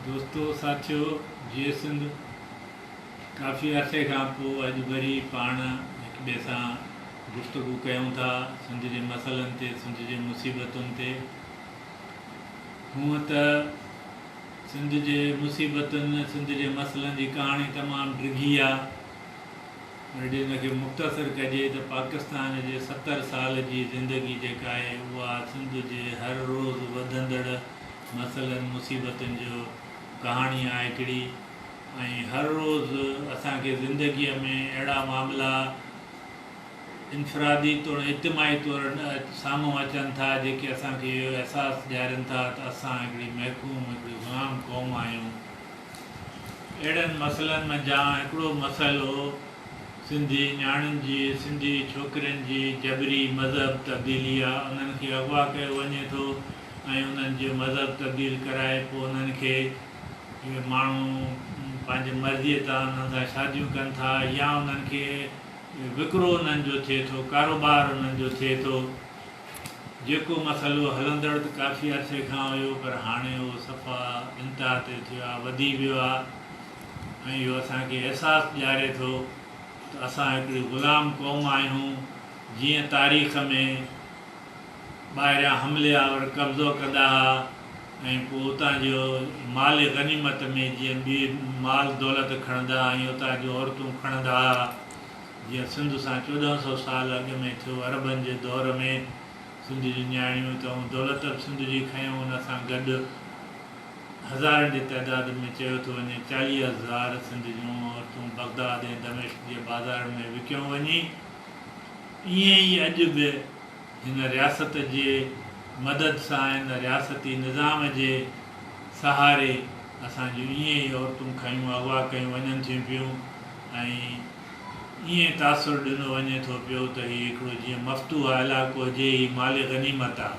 دوستو ساٿيو جيئي سنڌ ڪافي عرصي کان پو اڄ وري پاڻ هڪ ٻئي سان گفتگو ڪيون ٿا سنڌ جي مسئلن تي سنڌ جي مصيبتن تي هونء ته سنڌ جي مصيبتن سنڌ جي مسئلن جي ڪهاڻي تمام ڊگهي آ جي ان کي مختصر ڪجي ته پاڪستان جي ستر سال جي زندگي جيڪا آهي اها سنڌ جي هر روز وڌندڙ مسئلن مصيبتن جو ڪهاڻي آهي هڪڙي ۽ هر روز اسان کي زندگي ۾ اهڙا معاملا انفرادي توڻي اجتماعي طور سامهون اچن ٿا جيڪي اسان کي اهو احساس ڏيارين ٿا ته اسان هڪڙي محڪوم هڪڙي غلام قوم آهيون. اهڙن مسئلن منجهان هڪڙو مسئلو سنڌي نياڻين جي، سنڌي ڇوڪرين جي جبري مذهب تبديلي آ. انهن کي اغوا ڪيو وڃي ٿو ۽ انهن جو مذهب تبديل ڪرائي پوء انهن کي اهي ماڻهو پنهنجي مرضي تان انهن سان شاديون ڪن ٿا يا انهن کي وڪرو انهن جو ٿئي ٿو، ڪاروبار انهن جو ٿئي ٿو. جيڪو مسئلو هلندڙ ته ڪافي عرصي کان هيو پر هاڻي اهو صفا انتها تي ٿيو آهي، وڌي ويو آهي ۽ اهو اسان کي احساس ڏياري ٿو ته اسان هڪڙي غلام قوم آهيون جيئن تاريخ ۾ ٻاهريان حملي آور قبضو ڪندا ها ۽ پوء اتان جي مال غنيمت ۾ جيئن ٻيئي مال دولت کڻندا ها ائين اتان جون عورتون کڻندا ها. جيئن سنڌ سان چوڏهن سؤ سال اڳ ۾ ٿيو عربن جي دور ۾ سنڌ جون نياڻيون ته اون دولت به سنڌ جي کنيو ان سان گڏ هزارن جي تعداد ۾ چيو ٿو وڃي چاليهه هزار سنڌ جون عورتون بغداد ۽ دمشق جي بازارن ۾ وڪيون وڃي ايئن ئي اڄ به هن رياست جي مدد سان هن رياستي نظام جي سهاري اسان جون ايئن ئي عورتون کنيون اغوا ڪيون وڃن ٿيون پيون ۽ ائين تاثر ڏنو وڃي ٿو پيو ته هي هڪڙو جيئن مفتوحه علائقو هجي، هي مال غنيمت آ.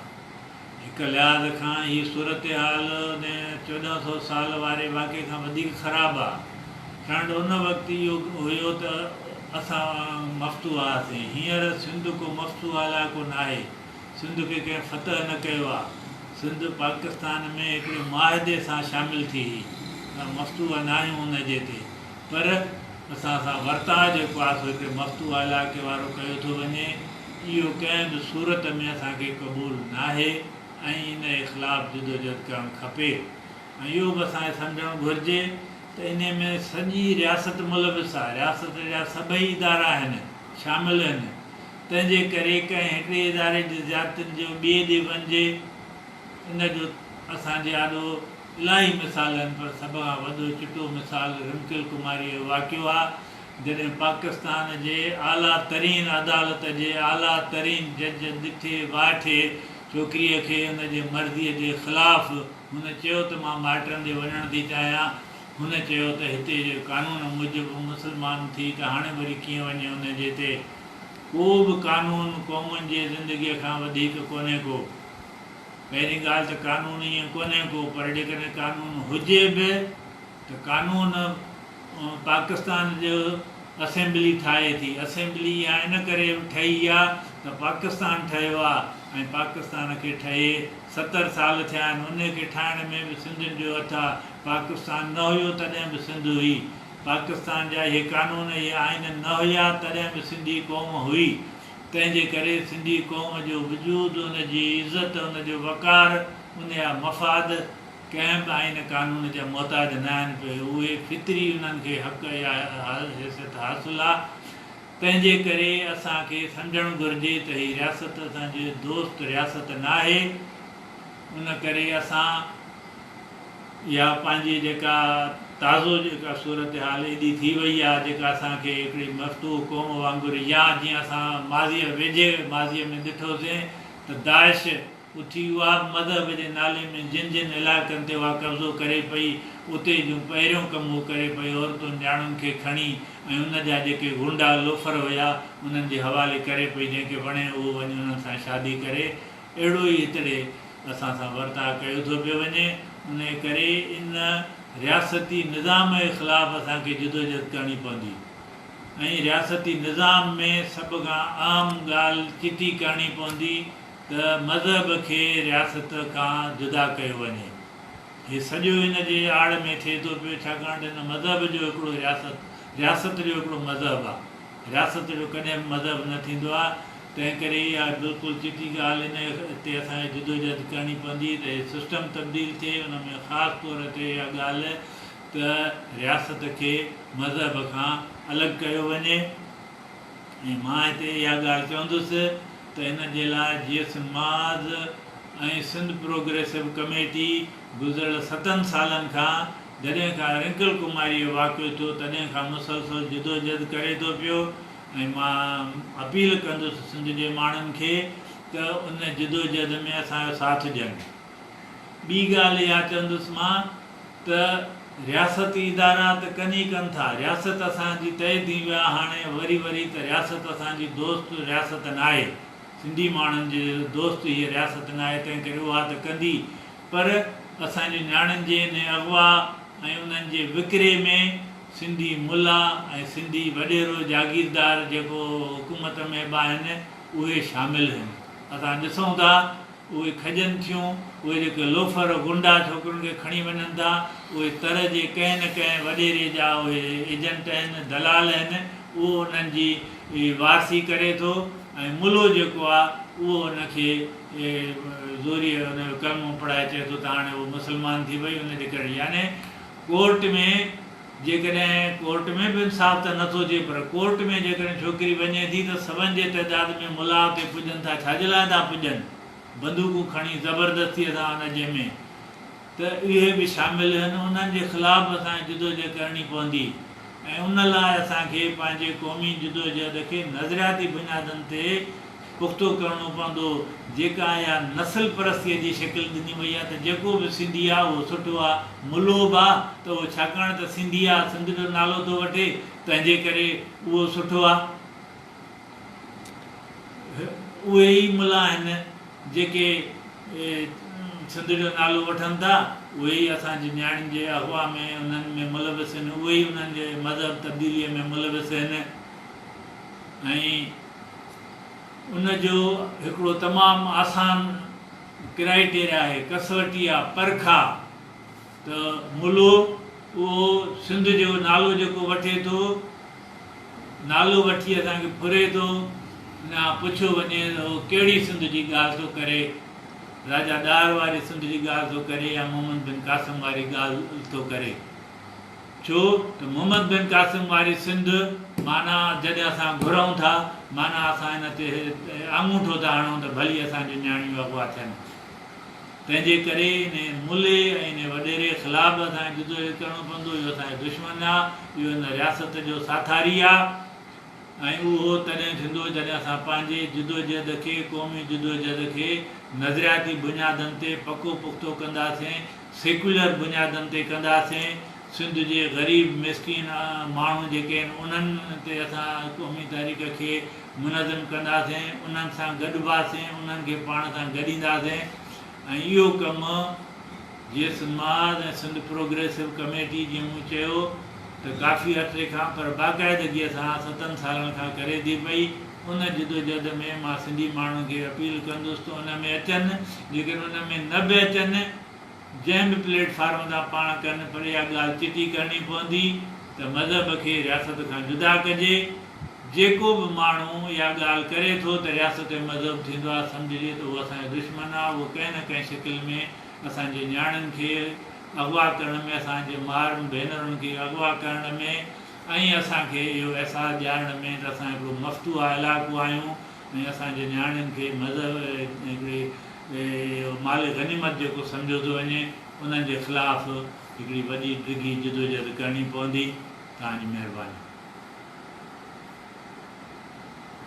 هڪ لحاظ کان هي صورتحال ان چوڏهن سؤ سال واري واقعي کان وڌيڪ خراب آ. ٺهنڊ ان وقت اهو هيو ته اسان مفتوح هئاسين. هينئر سنڌ ڪو مفتوح علائقو ناهي. سنڌ کي ڪنهن فتح نه ڪيو آ. سنڌ پاڪستان ۾ هڪڙي معاهدي سان شامل ٿي هي. اسان مفتوح ناهيون ان جي تي. پر اسان سان ورتاء جيڪو آسو هتي مفتوحه علائقي وارو ڪيو ٿو وڃي، اهو ڪنهن به صورت ۾ اسان کي قبول ناهي ۽ ان جي خلاف جدوجهد ڪرڻ کپي ۽ اهو به اسان کي سمجهڻ گهرجي ته انهي ۾ سڄي رياست ملوث آهي، رياست جا سڀئي ادارا هن شامل هن تنهن جي ڪري ڪنهن هڪڙي اداري جي زيادتين جو ٻئي ڏي وڃجي ان جو اسان جي آڏو الاهي مثال آهن پر سڀ کان وڏو چٽو مثال رمڪل ڪماريء جو واقعو آهي جڏهن پاڪستان جي اعليٰ ترين عدالت جي اعليٰ ترين جج ڏٺي وائٺي ڇوڪريء کي ان جي مرضيء جي خلاف هن چيو ته مان مائٽن ڏي وڃڻ ٿي چاهيان هن چيو ته هتي جي قانون موجب مسلمان ٿي ته هاڻي وري ڪيئن وڃي ان جي تي ڪو به قانون قومن جي زندگيء کان وڌيڪ ڪونهي ڪو. پهرين ڳالهه ته قانون ائين ڪونهي ڪو پر جيڪڏهن قانون هجي به ته قانون پاڪستان جو اسيمبلي ٺاهي ٿي اسيمبلي اها ان ڪري ٺهي آ ته پاڪستان ٺهيو آ ۽ پاڪستان کي ٺهي ستر سال ٿيا آهن ان کي ٺاهڻ ۾ به سنڌين جو هٿ آ پاڪستان نه هيو تڏهن به سنڌ هئي پاڪستان جا اهي قانون اهي آئين نه هيا تڏهن به سنڌي قوم هئي. تنهن جي ڪري سنڌي قوم جو وجود، ان جي عزت، ان جو وقار، ان جا مفاد ڪنهن به آئين قانون جا محتاج نه آهن پئي اهي فطري انهن کي حق يا حيثيت حاصل آ تنهن جي ڪري اسان کي سمجهڻ گهرجي ته هي رياست اسان جي دوست رياست ناهي ان ڪري اسان اها پنهنجي جيڪا تازو جيڪا صورتحال ايڏي ٿي وئي آهي جيڪا اسان کي هڪڙي مفتوح قوم وانگر يا جيئن اسان ماضيء ويجهي ماضيء ۾ ڏٺوسين ته داعش اٿي اها به مذهب جي نالي ۾ جن جن علائقن تي اها قبضو ڪري پئي اتي جون پهريون ڪم هو ڪري پئي عورتن نياڻين کي کڻي ۽ ان جا جيڪي غنڊا لوفر هيا انهن جي حوالي ڪري پئي جنهن کي وڻي اهو وڃي انهن سان شادي ڪري اهڙو ئي هتڙي اسان سان ورتاء ڪيو ٿو پيو وڃي، انهيء ڪري ان رياستي نظام جي خلاف اسان کي جدوجهد ڪرڻي پوندي ۽ رياستي نظام ۾ سڀ کان اهم ڳالهه چٽي ڪرڻي پوندي ته مذهب کي رياست کان جدا ڪيو وڃي. هي سڄو ان جي آڙ ۾ ٿئي ٿو پيو، ڇاڪاڻ ته ان مذهب جو هڪڙو رياست، رياست جو هڪڙو مذهب آ. رياست جو ڪڏهن به مذهب نه ٿيندو آهي، تنهن ڪري اها بلڪل چٽي ڳالهه ان تي اسان کي جدوجهد ڪرڻي پوندي ته هي سسٽم تبديل ٿئي، ان ۾ خاص طور تي اها ڳالهه ته رياست کي مذهب کان الڳ ڪيو وڃي ۽ مان هتي اها ڳالهه چوندس ته ان جي لاء جي ايس ماز ۽ سنڌ پروگريسو ڪميٽي گذريل ستن سالن کان جڏهن کان رنڪل ڪماري جو واقعو ٿيو تڏهن کان مسلسل جدوجھد ڪري ٿو پيو ۽ مان اپيل ڪندس سنڌ جي ماڻهن کي ته ان جدوجھد ۾ اسان جو ساٿ ڏين. ٻي ڳالهه اها چوندس مان ته رياستي ادارا ته ڪن ئي ڪن ٿا، رياست اسان جي تهه ٿي ويو آهي هاڻي وري وري ته رياست اسان جي دوست رياست ناهي، سنڌي ماڻهن جي دوست هيء رياست ناهي تنهن ڪري اها ته ڪندي پر اسان جي نياڻين جي انهي اغوا ۽ انهن جي وڪري ۾ سنڌي ملا ۽ سنڌي وڏيرو جاگيردار جيڪو حڪومت ۾ به آهن اهي شامل هين اسان ڏسون ٿا اهي کڄن ٿيون اهي جيڪي لوفر غنڊا ڇوڪرين کي کڻي وڃن ٿا اهي تر جي ڪنهن نه ڪنهن وڏيري جا اهي ايجنٽ آهن دلال آهن اهو انهن جي وارثي ڪري ٿو ۽ ملو جيڪو آهي اهو ان کي کي زوريء ان جو ڪلمو پڙهائي چئي ٿو ته هاڻي هوء مسلمان ٿي وئي ان جي ڪري يعني ڪورٽ ۾ جيڪڏهن ڪورٽ ۾ به انصاف ته نه ٿو ٿئي پر ڪورٽ ۾ جيڪڏهن ڇوڪري وڃي ٿي ته سون جي تعداد ۾ ملاء اتي پڄن ٿا ڇا جي لاء ٿا پڄن بندوقون کڻي زبردستيء سان ان جنهن ۾ ته اهي به شامل هن انهن جي خلاف به اسان کي جدوجهد ڪرڻي پوندي ۽ ان لاء اسان کي پنهنجي قومي جدوجهد کي نظرياتي بنيادن تي پختو ڪرڻو پوندو، جيڪا اها نسل پرستيء جي شڪل ڏني وئي آهي ته جيڪو به سنڌي آهي اهو سٺو آهي، ملوه به آهي ته اهو ڇاڪاڻ ته سنڌي آهي، سنڌ جو نالو ٿو وٺي، تنهنجي ڪري اهو سٺو آهي. هي اهي ئي ملان آهن جيڪي سنڌ جو نالو وٺن ٿا، اهي ئي اسان جي نياڻين جي اغوا ۾ انهن ۾ ملوث آهن، اهي ئي انهن جي مذهب تبديليء ۾ ملوث آهن ۽ ان جو هڪڙو تمام آسان ڪرائيٽيريا آهي، ڪسوٽي آهي، پرک آهي ته ملو اهو سنڌ جو نالو جيڪو وٺي ٿو، نالو وٺي اسان کي ڦري ٿو، ان کان پڇيو وڃي ته اهو ڪهڙي سنڌ جي ڳالهه ٿو ڪري، راجا ڏاهر واري سنڌ جي ڳالهه ٿو ڪري يا محمد بن قاسم واري ڳالهه ٿو ڪري. ڇو ته محمد بن قاسم واري سنڌ معنيٰ جڏهن اسان گهرئون ٿا، معنيٰ اسان ان تي آڱوٺو ٿا هڻئون ته ڀلي اسان جون نياڻيون اغوا ٿين. تنهنجي ڪري انهي ملي ۽ انهي وڏيري خلاف به اسان کي جدوجهد ڪرڻو پوندو. اهو اسان جو دشمن نه آ، اهو هن رياست جو ساٿاري آ. ۽ اهو تڏهن ٿيندو جڏهن اسان پنهنجي جدوجهد کي، قومي جدوجهد کي، نظرياتي بنيادن تي پڪو پختو ڪنداسين، سيڪيولر بنيادن تي ڪنداسين، سنڌ جي غريب مسڪين ماڻهو جيڪي آهن انهن تي اسان قومي تاريخ کي منظم ڪنداسين، انهن سان گڏباسين، انهن کي پاڻ سان گڏينداسين ۽ اهو ڪم. جيئي سنڌمهاز ۽ سنڌ پروگريسو ڪميٽي جي مون چيو ته ڪافي عرصي کان پر باقاعدگيء سان ستن سالن کان ڪري ٿي پئي، ان جدوجهد ۾ مان سنڌي ماڻهن کي اپيل ڪندس ته ان ۾ اچن، جيڪڏهن ان ۾ نه به اچن، جنهن به پليٽ فارم تان پاڻ ڪن پر اها ڳالهه چٽي ڪرڻي پوندي ته مذهب کي رياست کان جدا ڪجي، جيڪو به ماڻهو اها ڳالهه ڪري ٿو ته رياست ۽ مذهب ٿيندو آهي سمجهجي ته اهو اسان جو دشمن آهي، اهو ڪنهن نه ڪنهن شڪل ۾. اسان جي نياڻين کي اغوا ڪرڻ ۾ اسان جي مائرن ڀينرن کي اغوا ڪرڻ ۾ ۽ اسان کي اهو احساس ڏيارڻ ۾ ته اسان هڪڙو مفتوحه علائقو آهيون ۽ اسان جي نياڻين کي مذهب هڪڙي مال غنيمت جيڪو سمجهيو ٿو وڃي انهن جي خلاف هڪڙي وڏي ڊگهي جدوجهد ڪرڻي پوندي توهان جي مهرباني.